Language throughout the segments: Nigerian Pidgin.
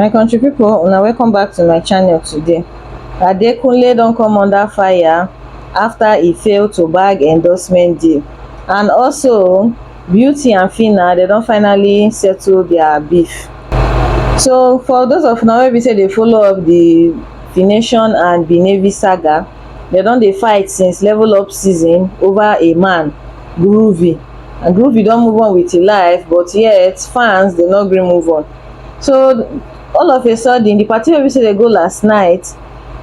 my country people, una welcome back to my channel today adekunle don come under fire after he fail to bag endorsement deal and also beauty and fina they don finally settle their beef so for those of una wey be say dey follow up the fination and benevi saga dem don dey fight since level up season over a man groovy and groovy don move on with him life but yet fans dey no gree move on so all of a sudden the party wey be say dey go last night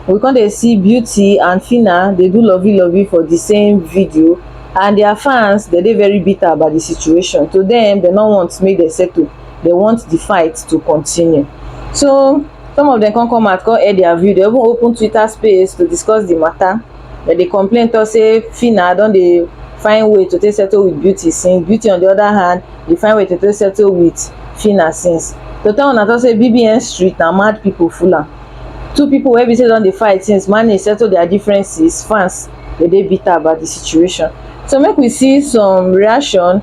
we come dey see beauty and fina dey do lovey lovey for the same video and their fans dey dey very bitter about the situation to them they no want make dem settle they want the fight to continue so some of them come come out come air their view they even open twitter space to discuss the matter but they complain talk say Phyna don dey find way to take settle with beauty since beauty on the other hand dey find way to take settle with Phyna since to tell una talk say bbn street na mad people full am two people wey be say don dey fight since manage settle their differences fans dey dey bitter about the situation so make we see some reaction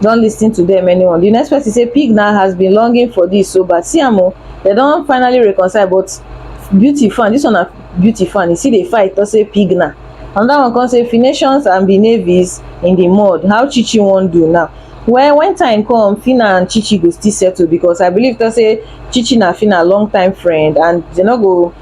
don lis ten to them anyone the next person say pig na has been longing for this so but see am o they don finally reconcile but beauty fan this one na beauty fan e still dey fight talk say pig na another one come say finations and be navies in the mud how chichi wan do now well when time come fina and chichi go still settle because i believe talk say chichi na fina long time friend and they no go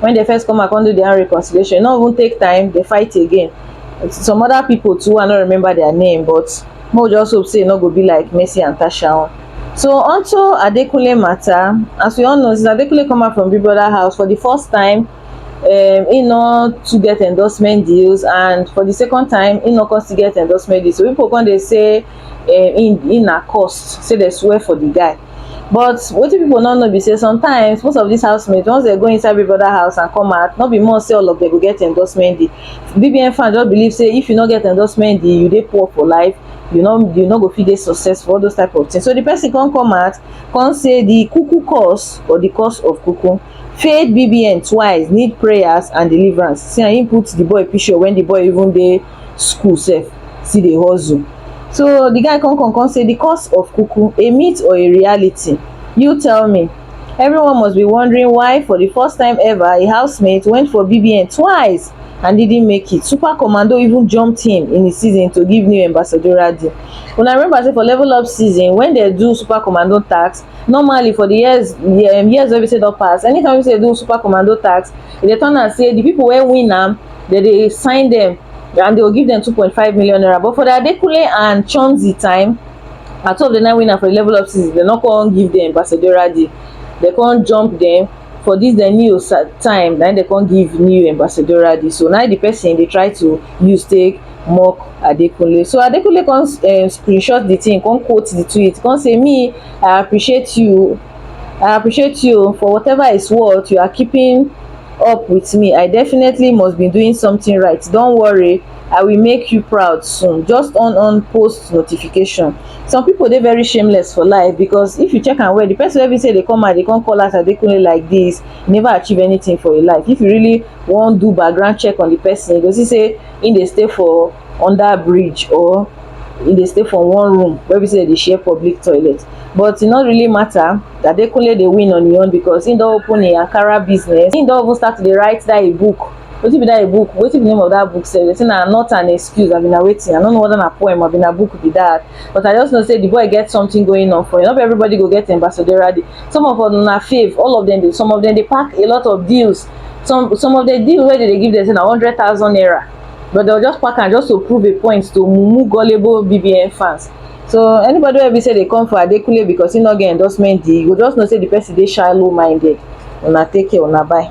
when they first come and come do their reconciliation no even take time they fight again some other people too i no remember their name but mo just hope say e no go be like mercy and tasha own so onto adekunle matter as we all know since adekunle come out from big brother house for the first time um, he no to get endorsement deals and for the second time he no come still get endorsement deals so people come dey say eh, in in na cost say they swear for the guy but wetin people no know be say sometimes most of these housemates once they go inside big brother house and come out no be more say all of them go get endorsement deal bbn fan just believe say if you no get endorsement deal you dey poor for life you no you no go fit dey successful all those type of things so the person come come out come say the cuckoo curse or the curse of cuckoo failed bbn twice need prayers and deliverance see and he put the boy picture when the boy even dey school sef still dey hustle so the guy come come come say the cause of kuku a myth or a reality you tell me everyone must be wondering why for the first time ever a housemate went for BBN twice and didn't make it super commando even jumped him in the season to give new ambassadorial deal una remember say for level up season when they do super commando tax normally for the years the um, years wey be say don pass anytime wey be say they do super commando tax e dey turn am say the people wey win am dem dey sign dem and dey go give dem two point five million naira but for the Adekunle and Chomzy time na two of the nine winner for the level up season dem no come give dem ambassadorial deal dem come jump dem for this dem new time na dem come give new ambassadorial deal so na the person dey try to use take mock Adekunle so Adekunle come um, screenshot the thing come quote the tweet come say me I appreciate you I appreciate you for whatever is worth you are keeping up with me i definitely must be doing something right don't worry i will make you proud soon just on on post notification some people they very shameless for life because if you check and where the person every say they come out they come call us adekunle like this never achieve anything for your life if you really want do background check on the person because he say in they stay for under bridge or in they stay for one room where we say they share public toilet but it not really matter Adekunle dey win on im own because im don open im Ankara business. Im don even start to dey write that im book. Wetin be that im book? Wetin be the name of that book sef? They say na not an excuse abi na wetin? I no know whether na poem abi na book be that. But I just know say the boy get something going on for him. No be everybody go get ambassadorial deal. Some of una fave, all of them dey, some of them dey pack a lot of deals. Some some of the deal wey they dey give them say na hundred thousand naira. But they'll just pack am just to prove a point to mumu gullible BBN fans. so anybody wey be say dey come for adekunle because he no get endorsement deal you go just know say the person dey shallow minded una take care una bye.